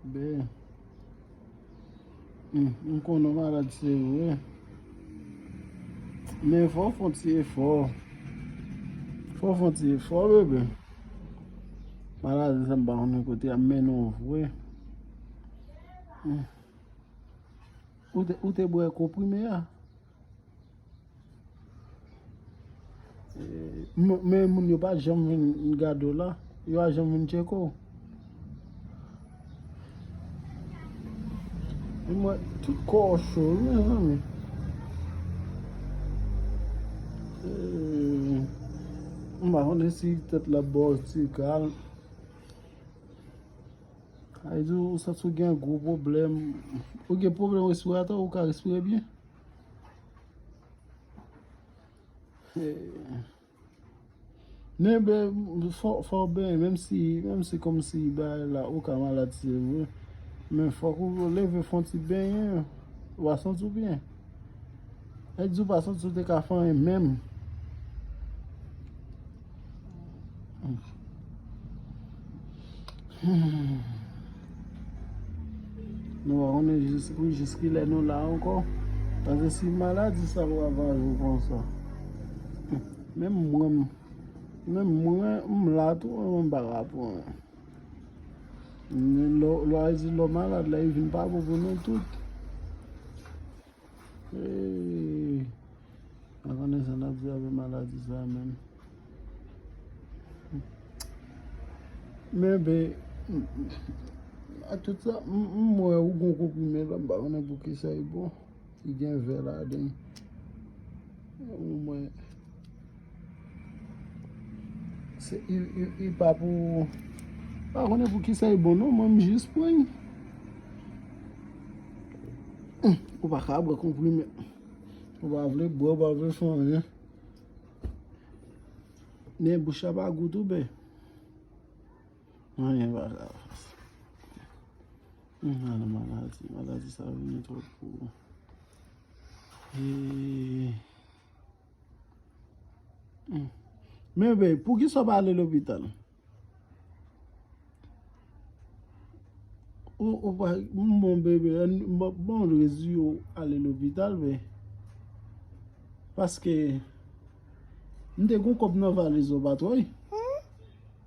Ben. M konnen w malad se vre. Men fò w fè yon ti efò. Fò w fè yon ti efò bebe. Maladi sa m pa konnen kote ap mennen w vre. Ou te bwè konprime a? Men moun yo pa janm vin gade w la, yo pa janm vin tcheke w. Di mwen, tout kò w cho wi mezanmi. M pa konnen si tèt la ap ba w ti kal. Ay di w santi w gen gwo pwoblèm. Ou gen pwoblèm respiratè ou ka respire byen? Men bè, fò bè, menm si, menm si kòm si bè la ou ka malad se vre, men fò kou ou leve fon ti bè, ou a santi ou byen. Lè di ou pa santi ou te ka fanyen menm. Nou va konnen jiskilè nou la ankò. Pase si maladi sa ravaje ou konsa. Menm mwen, menm mwen m la tou an m pa ka pran. Lè w a di lò malad la, e vin pa bon pou nou tout. Eeii Mwen konnen sa nap di avè maladi sa menm Men be Ak tout sa m wè ou gon konprime la m pa konnen pou kisa li bon Li gen vè ladan l Ou mwen Se u pa pou pa konnen pou kisa e bon non mwen m jis pran li ou pa ka bwe konprime ou pa vle bwe ou pa vle fè anyen men bouch la pa gou tou bè anyen pa ka nan maladi maladi sa vini twòp pou ou eee Men bey pou kisa ou pa ale lopital. Ou pa bon bebe an bon rezi ou ale lopital bey. Paske m te gon kob nan valiz ou pa twey.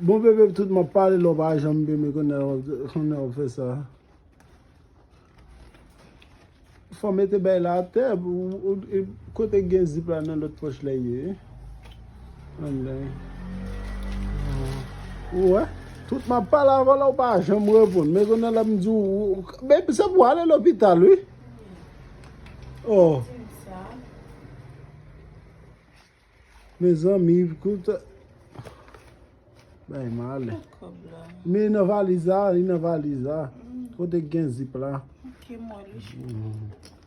Bon bebe tout map pale la ou pa janm beme kounya wap fè sa Fò mete bèy la atè Kote gen zip la nan lòt pòch la ye Anmwey Ou wè Tout map pale avè la ou pa janm reponn Men kounya lap di ou Bebe se pou ale lopital wi Oh Mezanmi kout Bay mal Li nan valiz la Li nan valiz la Kote gen zip la Ok mwen li